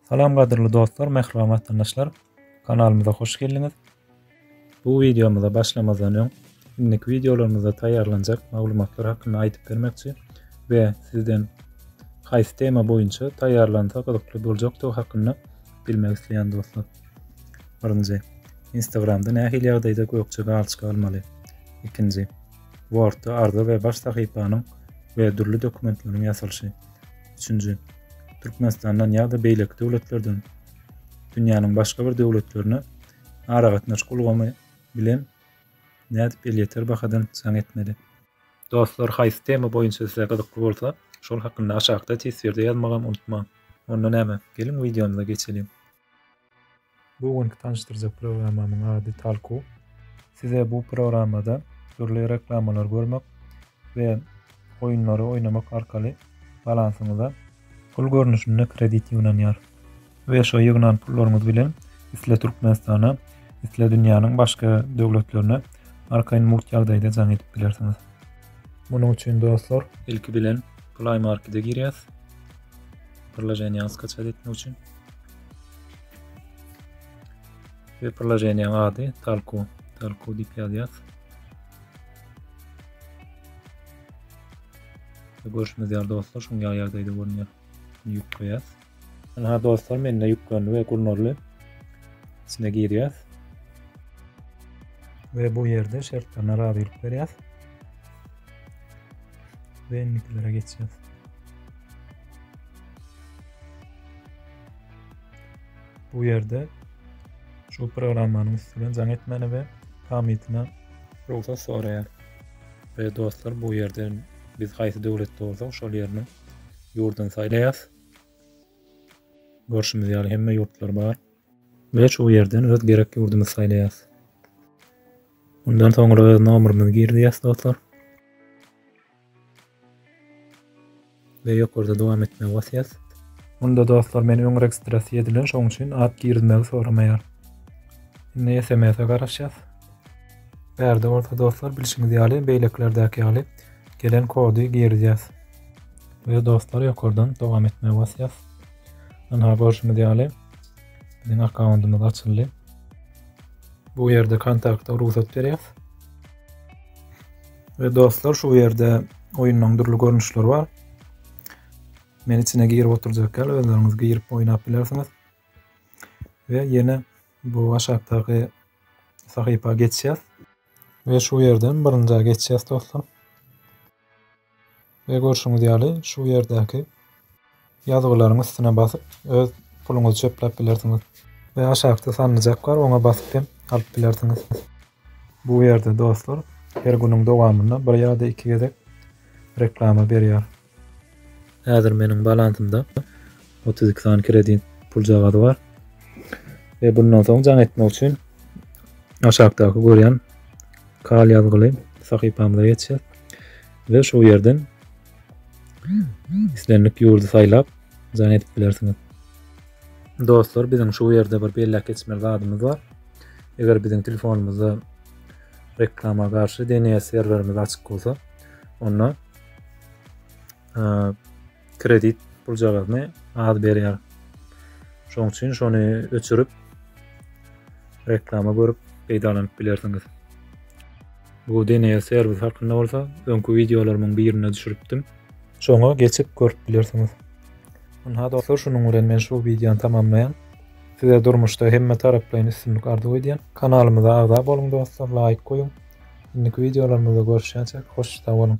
Salam gadyrly dostlar, mähriban watandaşlar. Kanalymyza hoş geldiňiz. Bu wideomyza başlamazdan öň, indiki wideolarymyzda taýýarlanjak maglumatlar hakynda aýdyp bermekçi we sizden haýsy tema boýunça taýýarlansa gyzykly boljakdygy hakynda bilmek isleýän dostlar. Birinji, Instagramda nähili ýagdaýda gökje galçyk almaly? Ikinji, Wordda arza we baş sahypanyň we dürli dokumentleriň ýasalyşy. Üçünji, Türkmenistandan ýa-da beýleki döwletlerden dünýäniň başga bir döwletlerine aragatnaşyk ulgamy bilen nädip elýeter bahadan jaň etmeli? Dostlar haýsy tema boýunça size gyzykly bolsa, şol hakynda aşakda teswirde ýazmagam unutmaň. Onda näme, geliň wideomyza geçeliň. Bu günki tanyşdyrjak programmamyň ady Talku. Size bu programmada dürli reklamalary görmek we oýunlary oýnamak arkaly balansyňyza pul görnüşinde kredit ýygnanýar. We şo ýygnan pullaryňyz bilen isle Türkmenistana, isle dünýäniň başga döwletlerine arkaýyn mugt ýagdaýda jaň edip bilersiňiz. Munuň üçin dostlar, ilki bilen Play Markete girýäs. Priloženiýany skaçat etmek üçin. Ve priloženiýanyň ady Talku. Talku diýip ýazýas. Görüşimiz ýaly dostlar, şuň ýaly ýagdaýda görünýär. Ýük goýas. Ana dostlar, mende ýüklendi ve gurnarly. İçine girýär. Ve bu ýerde şertlerine razylyk berýär. we indikilere geçýäs. Bu ýerde şu programmanyň üstüne jaň etmäni we pamytyna rugsat soraýar. We dostlar bu ýerde biz haýsy döwletde bolsak şol ýerini ýurduny saýlaýas. Görşümiz ýaly hemme ýurtlar bar. Ve şu ýerden öz gerek ýurdumyzy saýlaýas. Mundan soňra öz nomerimizi girýäs dostlar. Ve ýokarda dowam etmegi basýas. Munda dostlar men öň registrasiýa edilen şoň üçin at girizmegi soramaýar. Indi SMS-e garaşýas. Bärde bolsa dostlar bilşiňiz ýaly beýlekilerdäki ýaly gelen kody girizýas. Ve dostlar ýokardan dowam etmegi basýas. Ynha görşüňiz ýaly Biziň akkauntymyz açyldy. Bu ýerde kontakta rugsat berýär. We dostlar şu ýerde oýunlaryň dürli görnüşleri bar. Men içine girip oturjak ýaly özleriňiz girip oýnap bilersiňiz. We ýene bu aşakdaky sahypa geçýär. We şu ýerden birinjä geçýär dostlar. We görşüňiz ýaly şu ýerdäki ýazgylaryň üstüne basyp öz puluňyzy çöpläp bilersiňiz. We aşakda sanlyjak bar oňa basyp hem alyp bilersiňiz. Bu ýerde dostlar her günüň dowamynda bir ýa-da iki gezek reklama berýär. Häzir meniň balansymda otuz iki sany kredit puljagazy bar. Ve bundan soň can etmek üçin aşakdaki görýän kal ýazgyly sahypamyza geçeceğiz. Ve şu yerden islendik yurdu saylap can edip bilersiniz. Dostlar bizim şu yerde bir belläp geçmeli zadymyz var. Eger bizim telefonumuzda reklama karşı DNS serverimiz açık olsa onda kredit puljagazyny az berýär. Şoň üçin şony öçürip reklama görüp peýdalanyp bilersiňiz. Bu DNS serwis hakynda bolsa öňki wideolarymyň birinde düşüripdim. Şoňa geçip görüp bilersiňiz. Ynha dostlar, şunuň bilen men şu wideony tamamlaýan. Size durmuşda hemme taraplaýyn üstünlik arzuw edýän. Kanalymyza agza boluň dostlar, laýk goýuň. Indiki wideolarymyzda görüşýänçäk hoş sag boluň.